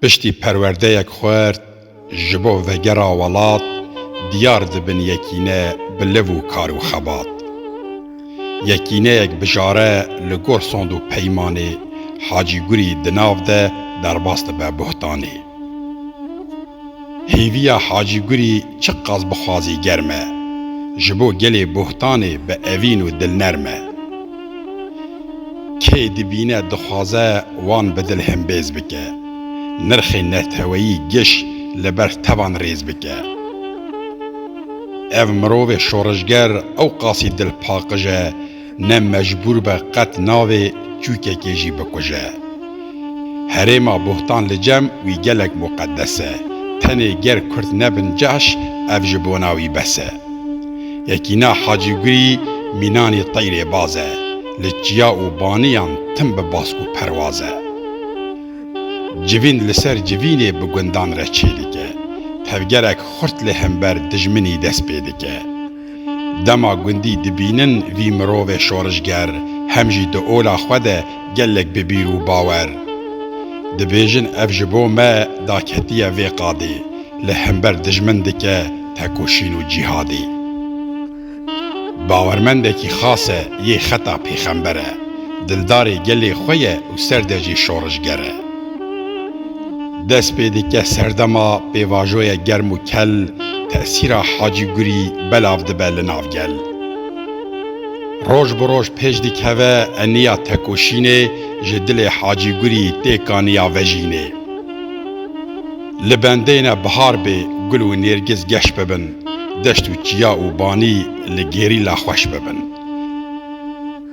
Piştî perwerdeyek xwert ji bo vegera welat diyar dibin yekîne bi liv û kar û xebat. Yekîneyek bijare li gor sond û peymanê Hacî Gurî di nav de derbas dibe buhtanê. Hêviya Hacî Gurî çi qas bi xwazî germ e, ji bo gelê buhtanê bi evîn û dilnerm e. Kê dibîne dixwaze wan bi dil himbêz bike, nirxê neteweyî giş li ber tevan rêz bike. Ev mirovê şoreşger ewqasî dilpaqij e ne mecbûr be qet navê çûkekê jî bikuje. Herêma Bohtan li cem wî gelek muqedes e. Tenê ger kurd nebin caş ev ji bona wî bes e. Yekîna Hacî Gurî mînanê teyrê baz e. Li çiya û baniyan tim bi bask û perwaz e. Civîn li ser civînê bi gundan re çêdike. Tevgerek xurt li hember dijminî dest pê dike. Dema gundî dibînin vî mirovê şorijger, hem jî di ola xwe de gelek bi bîr û bawer dibêjin ev ji bo me daketiye vê qadê li hember dijmin dike tekoşîn û cîhadê. Bawermendekî xas e yê xeta pêxember e, dildarê gelê xwe ye û serde jî şorijger e. Dest pê dike serdema pêvajoyek germ û kel tesîra Hacî Gurî belav dibe li nav gel. Roj bi roj pêş dikeve eniya tekoşînê ji dilê Hacî Gurî tê kaniya vejînê. Li bendeyne bihar bê gul û nêrgiz geş bibin, deşt û çiya û banî li gêrîla xweş bibin.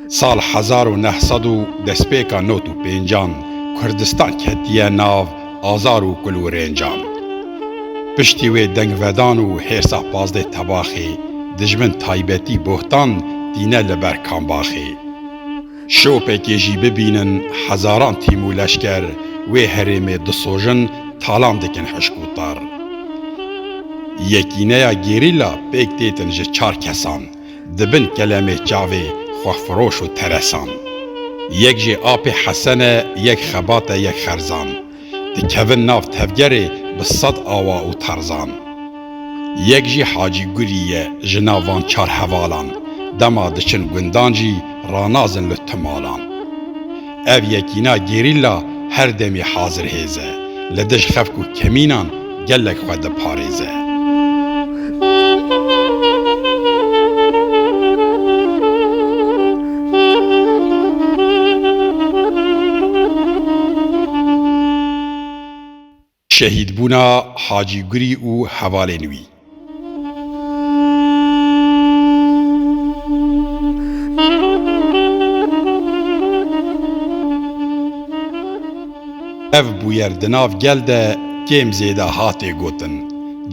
Sal hezar û neh sed û destpêka not û pêncan Kurdistan ketiye nav azar û kulwirêncan. Piştî wê dengvedan û hêrsa pazdeh tebaxê dijmin taybetî bohtan tîne li ber kambaxê. Şopekê jî bibînin hezaran tîm û leşker wê herêmê disojin talan dikin hişk û tar. Yekîneya gerîla pêk têtin ji çar kesan. di bin kelemê çavê xwehfiroş û teresan. Yek jê apê Hesen e, yek Xebat e, yek Xerzan. Dikevin nav tevgerê bi sed awa û terzan. Yek jî Hacî Gulî ye ji nav van çar hevalan. Dema diçin gundan jî, ranazin li tu malan. Ev yekîna gerîla her demê hazir hêz e, li dij xefk û kemînan gelek xwe diparêze. Şehîdbûna Hacî Gurî û hevalên wî. Ev bûyer di nav gel de kêm zêde hatê gotin,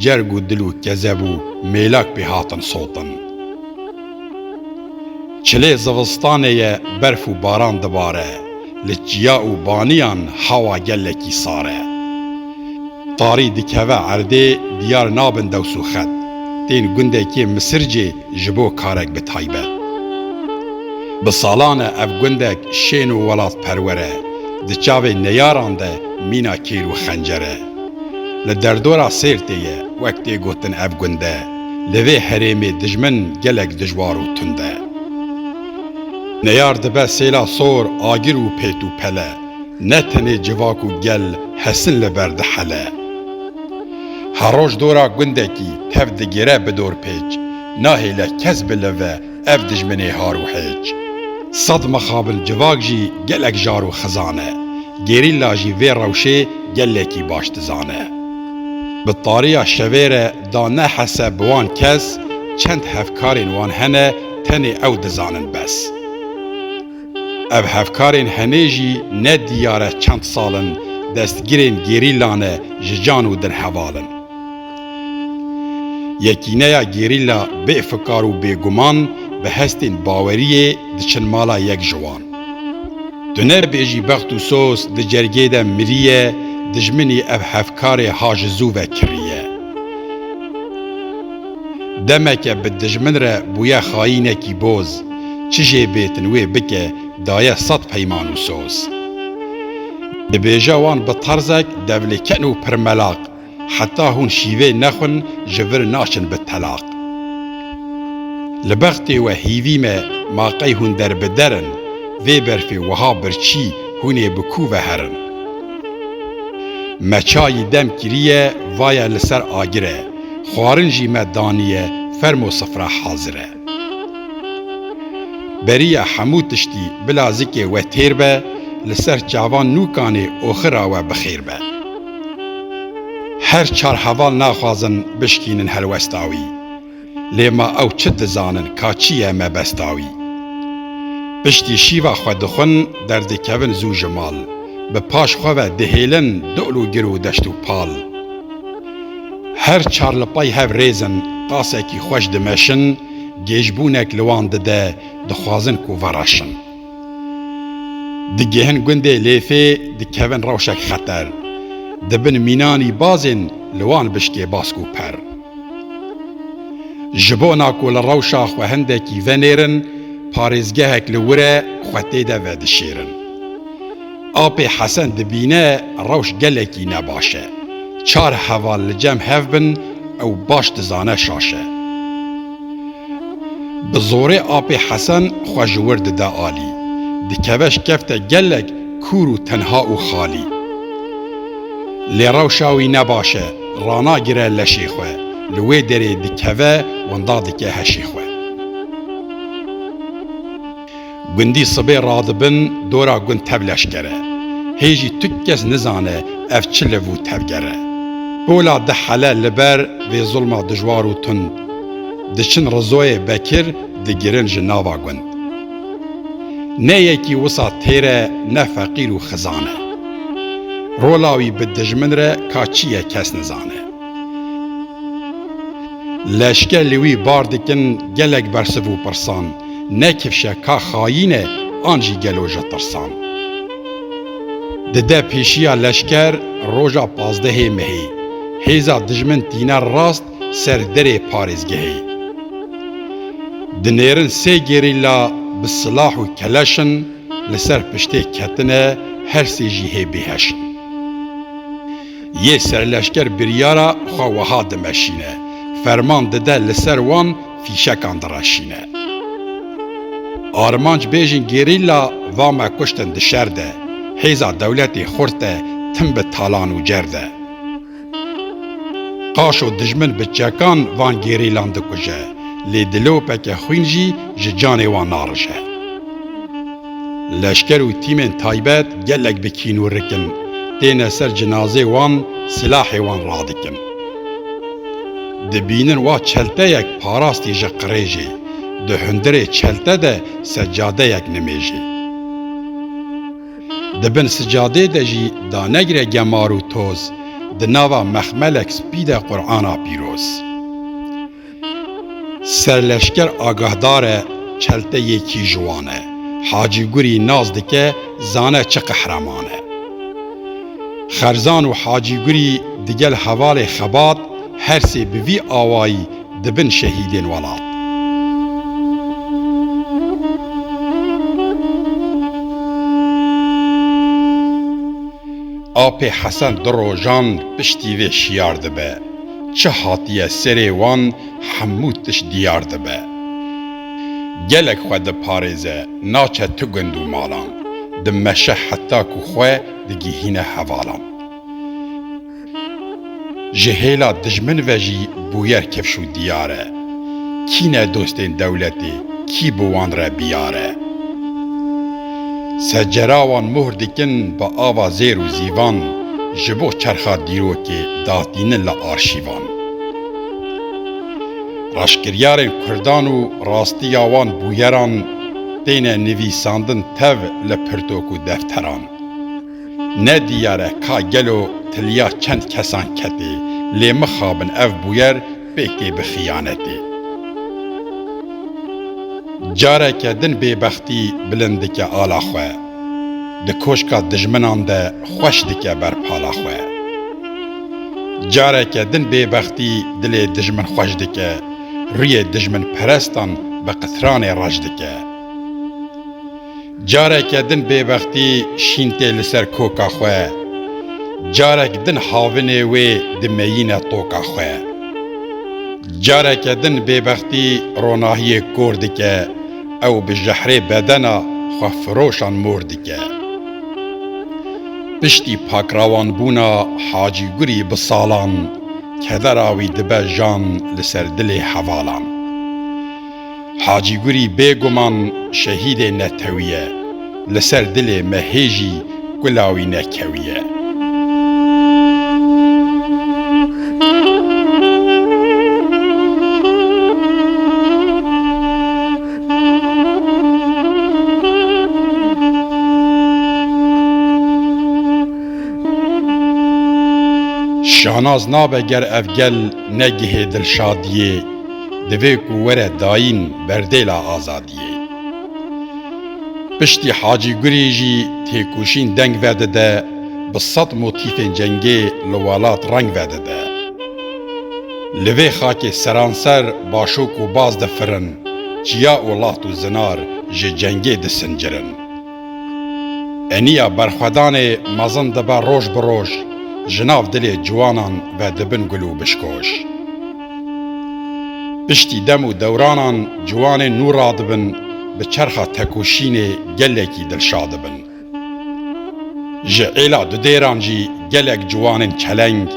cerg û dil û kezeb û mêlak pê hatin sotin. Çilê zivistanê ye berf û baran dibare. Li çiya û baniyan hewa gelekî sar e. Tarî dikeve erdê diyar nabin dews û xet. Tên gundekê Misircê ji bo karek bi taybet. Bi salan e ev gundek şên û welatperwer e. Di çavê neyaran de mîna kêr û xencer e. Li derdora Sêrtê ye. Wek tê gotin ev gunde li vê herêmê dijmin gelek dijwar û tund e. Neyar dibe sêla sor agir û pêt û pele, ne tenê civak û gel hesin li ber dihele. Her roj dora gundekî tev digire bi dorpêç, nahêle kes bi li ve ev dijminê har û hêç. Sed mixabin civak jî gelek jar û xizan e, gerîlla jî vê rewşê gelekî baş dizane. Bi tariya şevê re Da nehese bi wan kes çend hevkarên wan hene tenê ew dizanin bes. Ev hevkarên henê jî ne diyare çend sal in destgirên gerîla ne ji can û din heval in. Yekîneya gerîla bêfikar û bêguman bi hestên baweriyê diçin mala yek ji wan. Tu nebêjî bext û soz di cergê de miriye dijminî ev hevkarê ha ji zû ve kiriye. Demeke bi dijmin re bûye xayînekî boz, çi jê bêtin wê bike daye sed peyman û soz. Dibêje wan bi terzek devlêken û pirmelaq. heta hûn şîvê nexwin ji vir naçin bi telaq. Li bextê we hîvî me ma qey hûn derbider in, vê berfê wiha birçî hûn ê bi kû ve herin. Me çayî dem kiriye vaye li ser agir e, xwarin jî me daniye fermo sifra hazir e. Beriya hemû tiştî bila zikê we têr be, li ser çavan nû kanê oxira we bi xêr be. Her çar heval naxwazin bişkînin helwesta wî, lê ma ew çi dizanin ka çi ye mebesta wî. Piştî şîva xwe dixwin derdikevin zû ji mal, bi paş xwe ve dihêlin dol û gir û deşt û pal. Her çar li pay hev rêz in, qasekî xweş dimeşin, gêjbûnek li wan dide, dixwazin ku veraşin. Digêhin gundê Lêfê, dikevin rewşek xeter. Di bin mînanî bazên li wan bişkê bask û per. Ji bona ku li rewşa xwe hindekî venêrin, parêzgehek li wir e, xwe tê de vedişêrin. Apê Hesen dibîne rewş gelekî ne baş e. Çar heval li cem hev bin ew baş dizane şaş e. Bi zorê apê Hesen xwe ji wir dide alî. Dikeve ji kefte gelek kûr û tenha û xalî. Lê rewşa wî ne baş e, ranagire leşê xwe. Li wê derê dikeve winda dike heşê xwe. Gundî sibê radibin dora gund tev leşker e. Hê jî tu kes nizane ev çi liv û tevger e. Pola di hele li ber vê zulma dijwar û tund. Diçin Rizoyê Bekir digirin ji nava gund. Ne yekî wisa têr e ne feqîr û xizan e. Rola wî bi dijmin re ka çi ye kes nizane. Leşke li wî bar dikin gelek bersiv û pirsan, ne kifşe ka xayîn e an jî gelo ji tirsan. Dide pêşiya leşker roja pazdehê mehê, hêza dijmin tîne rast ser derê parêzgehê. Dinêrin sê gerîla bi silah û keleşin li ser piştê ketine her sê jî hê bêheşin. Yê serleşker biryara xwe wiha dimeşîne, ferman dide li ser wan fîşekan direşîne. Armancbêjên gerîla va me kuştin di şer de, hêza dewletê xurt de tim bi talan û cer de. Qaşo dijmin bi çekan van gerîlan dikuje, lê dilopeke xwîn jî ji canê wan narije. Leşker û tîmên taybet gelek bi kîn û rikin têne ser cinazê wan silahê wan radikin. Dibînin wa çelteyek parastî ji qirêjê, di hundirê çelte de secadeyek nimêjê. Di bin sicadê de jî danegire gemar û toz, di nava mexmelek spî de Qur'ana pîroz. Serleşker agahdar e çelte yê kî ji wan e. Hacî Gurî nas dike zane çi qehreman e. Xerzan û Hacî Gurî digel hevalê xebat her sê bi vî awayî dibin şehîdên welat. Apê Hesen du rojan piştî vê şiyar dibe. çi hatiye serê wan hemû tişt diyar dibe. Gelek xwe diparêze naçe tu gund û malan, dimeşe heta ku xwe digihîne hevalan. Ji hêla dijmin ve jî bûyer kifş û diyar e. Kî ne dostên dewletê, kî bi wan re biyar e. Secera wan mohr dikin bi ava zêr û zîvan ji bo çerxa dîrokê datînin li arşîvan. Reşkiryarên kurdan û rastiya wan bûyeran têne nivîsandin tev li pirtok û defteran. Ne diyar e ka gelo tiliya çend kesan ketê lê mixabin ev bûyer pêk tê bi xiyanetê. Careke din bêbextî bilind dike ala xwe, di koşka dijminan de xweş dike ber pala xwe. Careke din bêbextî dilê dijmin xweş dike, rûyê dijminperestan bi qitranê reş dike. Careke din bêbextî şîn tê li ser koka xwe, carek din havinê wê dimeyîne toka xwe. Careke din bêbextî ronahiyê kor dike, ew bi jehrê bedena xwefiroşan mor dike. Piştî pakrawanbûna Hacî Gurî bi salan, kedera wî dibe jan li ser dilê hevalan. Hacî Gurî bêguman şehîdê netewî ye, li ser dilê me hê jî kula wî nekewiye. Şanaz nabe ger ev gel negihê dilşadiyê. divê ku were dayîn berdêla azadiyê. Piştî Hacî Gurê jî têkoşîn deng vedide, bi sed motîfên cengê li welat reng vedide. Li vê xakê seranser başok û baz difirin, çiya û laxt û zinar ji cengê disincirin. Eniya berxwedanê mezin dibe roj bi roj ji nav dilê ciwanan ve dibin gul û bişkoş. Piştî dem û dewranan ciwanên nû radibin bi çerxa tekoşînê gelekî dilşa dibin. Ji êla du dêran jî gelek ciwanên çeleng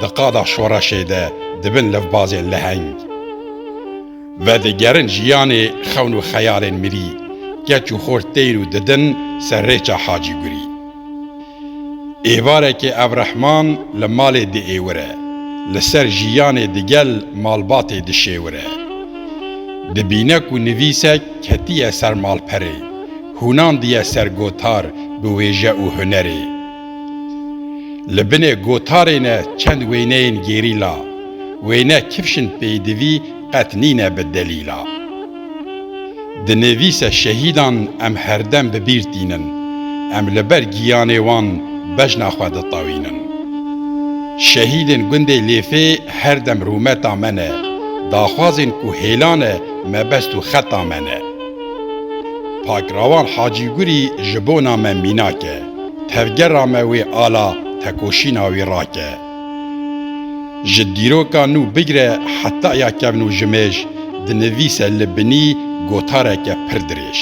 di qada şoreşê de dibin levbazên leheng. Vedigerin jiyanê xewn û xeyalên mirî, keç û xort têr û didin ser rêça Hacî Gurî. Êvarekê ev rehman li malê diêwire, li ser jiyanê digel malbatê dişêwire. Dibîne ku nivîsek ketiye ser malperê, hûnandiye ser gotar bi wêje û hunerê. Li binê gotarê ne çend wêneyên gerîla, wêne kifşin peydivî qet nîne bi delîla. Di nivîse şehîdan em herdem bi bîr tînin, em li ber giyanê wan bejna xwe ditewînin. Şehîdên gundê Lêfê her dem rûmeta me ne, daxwazên ku hêla ne mebest û xeta me ne. Pakrawan Hacî Gurî ji bona me mînak e. tevgera me wê ala tekoşîna wî rake. Ji dîroka nû bigire heta ya kevn û jimêj dinivîse li binî gotareke pir dirêj.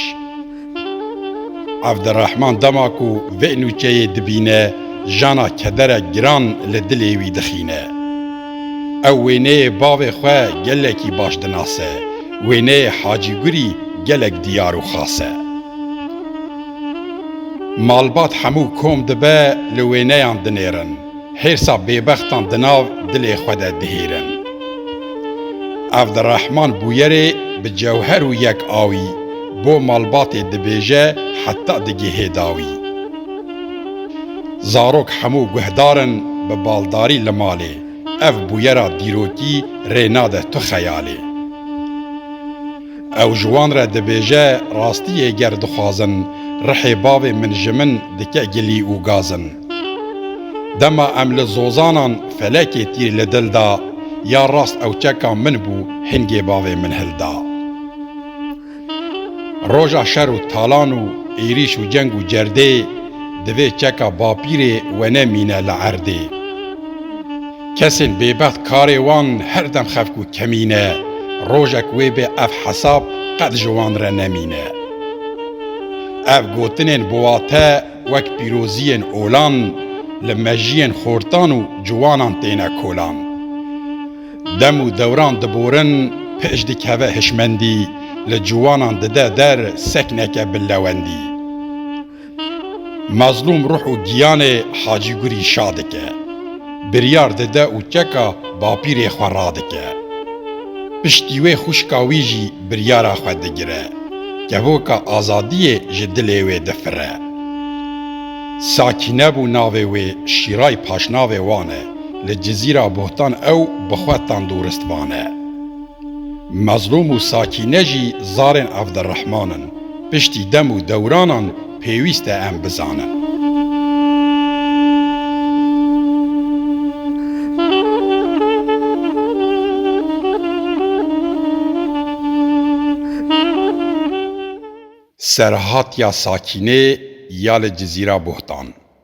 Evdirehman dema ku vê nûçeyê dibîne jana kederek giran li dilê wî dixîne. Ew wêneyê bavê xwe gelekî baş dinase, wêneyê Hacîgurî gelek diyar û xas e. Malbat hemû kom dibe li wêneyan dinêrin, hêrsa bêbextan di nav dilê xwe de dihêrin. Evdirehman Bûyerê bi cewher û yek awî bo malbatê dibêje heta digihê dawî. Zarok hemû guhdar in bi baldarî li malê, ev bûyera dîrokî rê nade tu xeyalê. Ew ji wan re dibêje rastiyê ger dixwazin rihê bavê min ji min dike gilî û gazin. Dema em li zozanan felekê tîr li dil da ya rast ew çeka min bû hingê bavê min hilda. Roja şer û talan û êrîş û ceng û cerdê divê çeka bapîrê we ne mîne li erdê. Kesên bêbext karê wan her dem xev ku kemîne, rojek wê bê ev hesab qet ji wan re nemîne. Ev gotinên biwate wek pîroziyên olan li mejiyên xortan û ciwanan têne kolan. Dem û dewran diborin, pêş dikeve hişmendî, li ciwanan dide der sekneke bi lewendî. Mezlûm ruh û giyanê Hacî Gurî şa dike. Biryar dide û keka bapîrê xwe radike. Piştî wê xwişka wî jî biryara xwe digire. Kevoka azadiyê ji dilê wê difire. Sakîne bû navê wê Şîray paşnavê wan e. Li Cizîra Bohtan ew bi xwe tandûrist vane. Mezlûm û Sakîne jî zarên Evdirehman in. Piştî dem û dewranan pêwîst e em bizanin. Serhatiya Sakînê ya li Cizîra Bohtan.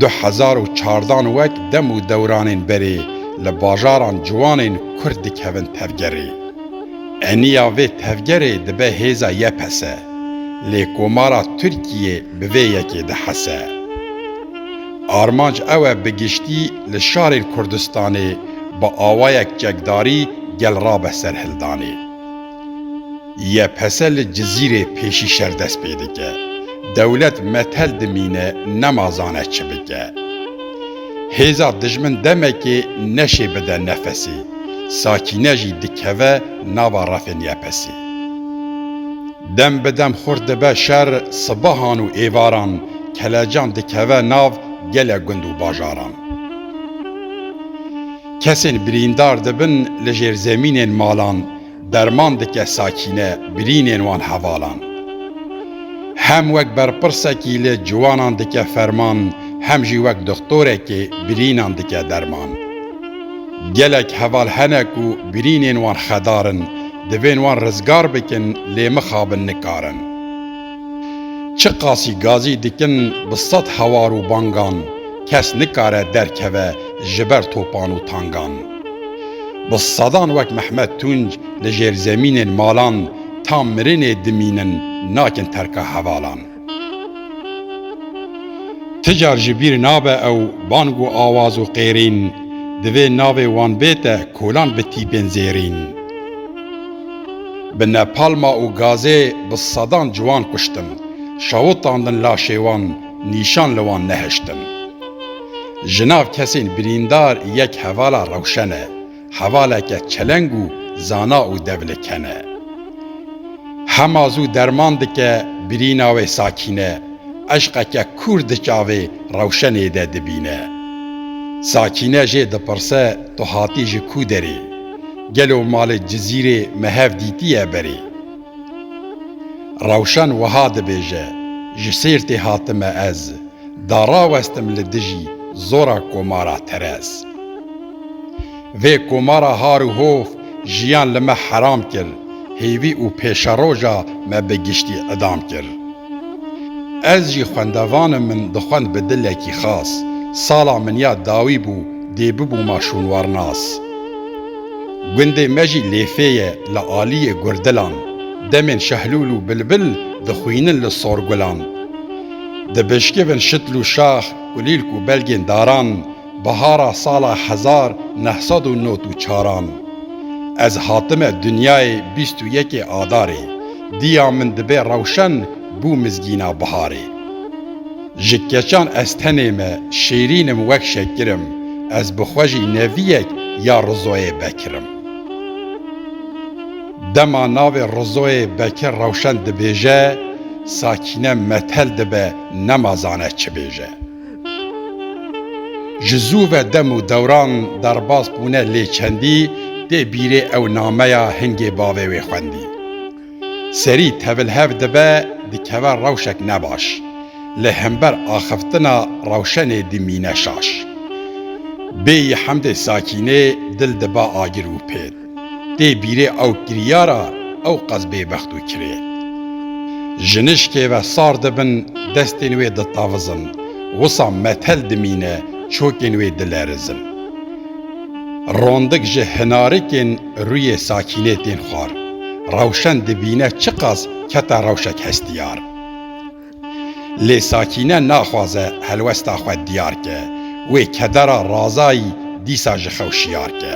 Du hezar û çardan wek dem û dewranên berê li bajaran ciwanên Kurd dikevin tevgerê. Eniya vê tevgerê dibe hêza YPS. Lê komara Tirkiyê bi vê yekê dihese. Armanc ew e bi giştî li şarên Kurdistanê bi awayek çekdarî gel rabe serhildanê. YPS li Cizîrê pêşî şer dest pê dike. Dewlet metel dimîne nema zane çi bike. Hêza dijmin demekê neşê bide nefesê. Sakîne jî dikeve nava refên YPSê. Dem bi dem xurt dibe şer sibehan û êvaran kelecan dikeve nav gelek gund û bajaran. Kesên birîndar dibin li jêrzemînên malan. Derman dike sakîne birînên wan hevalan. Hem wek berpirsekî li ciwanan dike ferman hem jî wek dixtorekê birînan dike derman. Gelek heval hene ku birînên wan xedar in, divên wan rizgar bikin lê mixabin nikarin. Çi qasî gazî dikin bi sed hewar û bangan kes nikare derkeve ji ber topan û tangan. Bi sedan wek Mehmet Tunc li jêrzemînên malan ta mirinê dimînin nakin terka hevalan. Ti car ji bîr nabe ew bang û awaz û qêrîn, divê navê wan bête kolan bi tîpên zêrîn. Bi nepalma û gazê bi sedan ciwan kuştin, şawitandin laşê wan nîşan li wan nehiştin. Ji nav kesên birîndar yek hevala rewşen e, hevaleke çeleng û zana û devliken e. Hema zû derman dike birîna wê Sakîne, eşqeke kûr di çavê rewşenê de dibîne. Sakîne jê dipirse tu hatî ji kû derê? Gelo malê Cizîrê me hev dîtîye berê? Rewşen wiha dibêje, Ji Sêrtê hatime ez, da rawestim li dijî zora komara terez. Vê komara har û hov jiyan li me heram kir, hêvî û pêşeroja me bi giştî idam kir. Ez jî xwendevanim min dixwend bi dilekî xas. Sala min ya dawî bû dê bibûma şûnwarnas. Gundê me jî lêfê ye li aliyê gurdilan. Demên şehlûl û bilbil dixwînin li sorgulan. Dibişkivin şitl û şax, kulîlk û belgên daran. Bihara sala hezar neh sed û nod û çaran ez hatime dinyayê bîst û yekê Adarê diya min dibe rewşen bû mizgîna biharê. Ji keçan ez tenê me şêrîn im wek şekir im ez bi xwe jî neviyek ya Rizoyê Bekir im. Dema navê Rizoyê Bekir rewşen dibêje Sakîne metel dibe nema zane çi bêje. Ji zû ve dem û dewran derbas bûne lê çendî tê bîrê ew nameya hingê bavê wê xwendî. Serî tevil hev dibe dikeve rewşek nebaş, lê hember axiftina rewşenê dimîne şaş. Bêyî hemdê sakînê dil dibe agir û pêt. Tê bîrê ew kiryara ew qas bêbext û kirê. Jinişkê ve sar dibin, destên wê ditavizin, wisa metel dimîne, çokên wê dilerizin. Rondik ji hinarikên rûyê Sakînê tên xwar. Rewşen dibîne çiqas kete rewşek hestiyar. Lê Sakîne naxwaze helwesta xwe diyar ke. Wê kedera Razayî dîsa ji xew şiyar ke.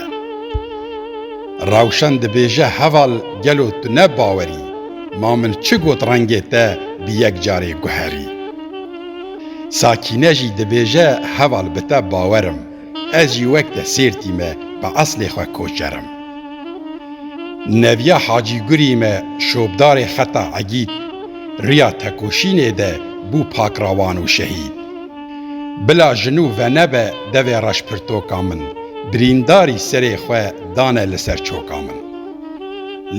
Rewşen dibêje heval gelo tu ne bawerî ma min çi got rengê te bi yek carê guherî. Sakîne jî dibêje heval bi te bawer im. Ez jî wek te Sêrtî me bi eslê xwe koçer im. Neviya Hacî Gurî me şopdarê Xeta Egîd, riya tekoşînê de bû pakrawan û şehîd. Bila jin û vene be devê reşpirtoka min, birîndarî serê xwe dane li ser çoka min.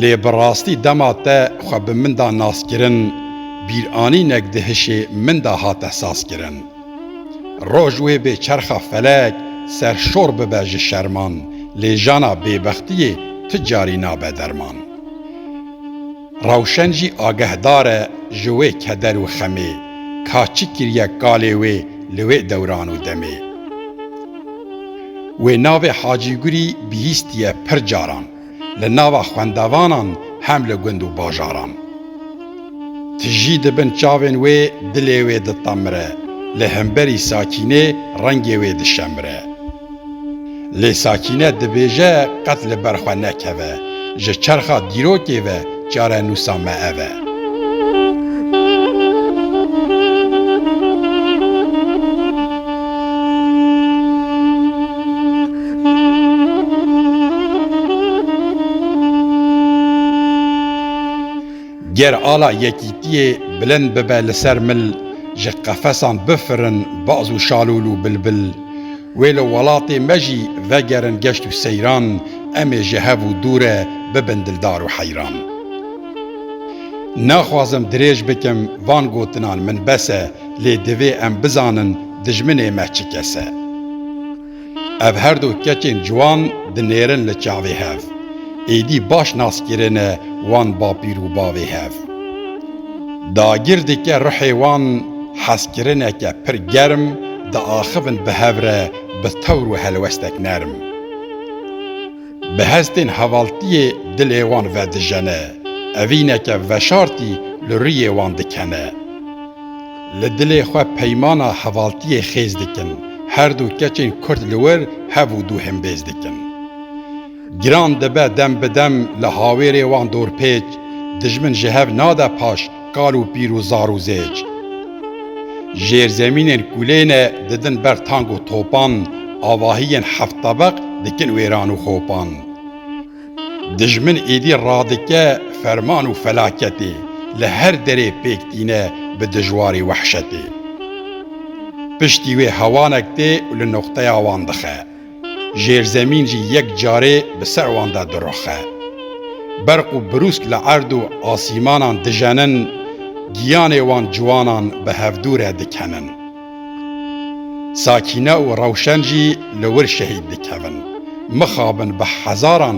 Lê bi rastî dema te xwe bi min da naskirin, bîranînek di hişê min da hate sazkirin. Roj wê bê çerxa felek serşor bibe ji şerman lê jana bêbextiyê ti carî nabe derman. Rewşen jî agehdar e ji wê keder û xemê ka çi kiriye kalê wê li wê dewran û demê. Wê navê Hacîgurî bihîstiye pir caran. li nava xwendavanan hem li gund û bajaran. Ti jî di bin çavên wê dilê wê ditemire, li hemberî Sakînê rengê wê dişemire. Lê Sakîne dibêje qet li ber xwe nekeve, ji çerxa dîrokê ve Çarenûsa me ev e. Ger ala yekîtiyê bilind bibe li ser mil, ji qefesan bifirin baz û şalûl û bilbil, Wê li welatê me jî vegerin geşt û seyran, em ê ji hev û dû re bibin dildar û heyran. Naxwazim dirêj bikim van gotinan min bes e, lê divê em bizanin dijminê me çi kes e. Ev her du keçên ciwan dinêrin li çavê hev, êdî baş nas kirine wan bapîr û bavê hev. Dagir dike ruhê wan hezkirineke pir germ diaxivin bi hev re bi tewr û helwestek nerm. Bi hestên hevaltiyê dilê wan vedijene, evîneke veşartî li rûyê wan dikene. Li dilê xwe peymana hevaltiyê xêz dikin, her du keçên kurd li wir hev û dû himbêz dikin. Giran dibe dem bi dem li hawêrê wan dorpêç, dijmin ji hev nade paş kal û pîr û zar û zêç. Jêrzemînên ku lê ne didin ber tank û topan, avahiyên heft tebeq dikin wêran û xopan. Dijmin êdî radike ferman û felaketê, li her derê pêk tîne bi dijwarî wehşetê. Piştî wê hewanek tê û li noqteya wan dixe. Jêrzemîn jî yek carê bi ser wan de diroxe. Berq û birûsk li erd û asîmanan dijenin, giyanê wan ciwanan bi hevdû re dikenin. Sakîne û Rewşen jî li wir şehîd dikevin. Mixabin bi hezaran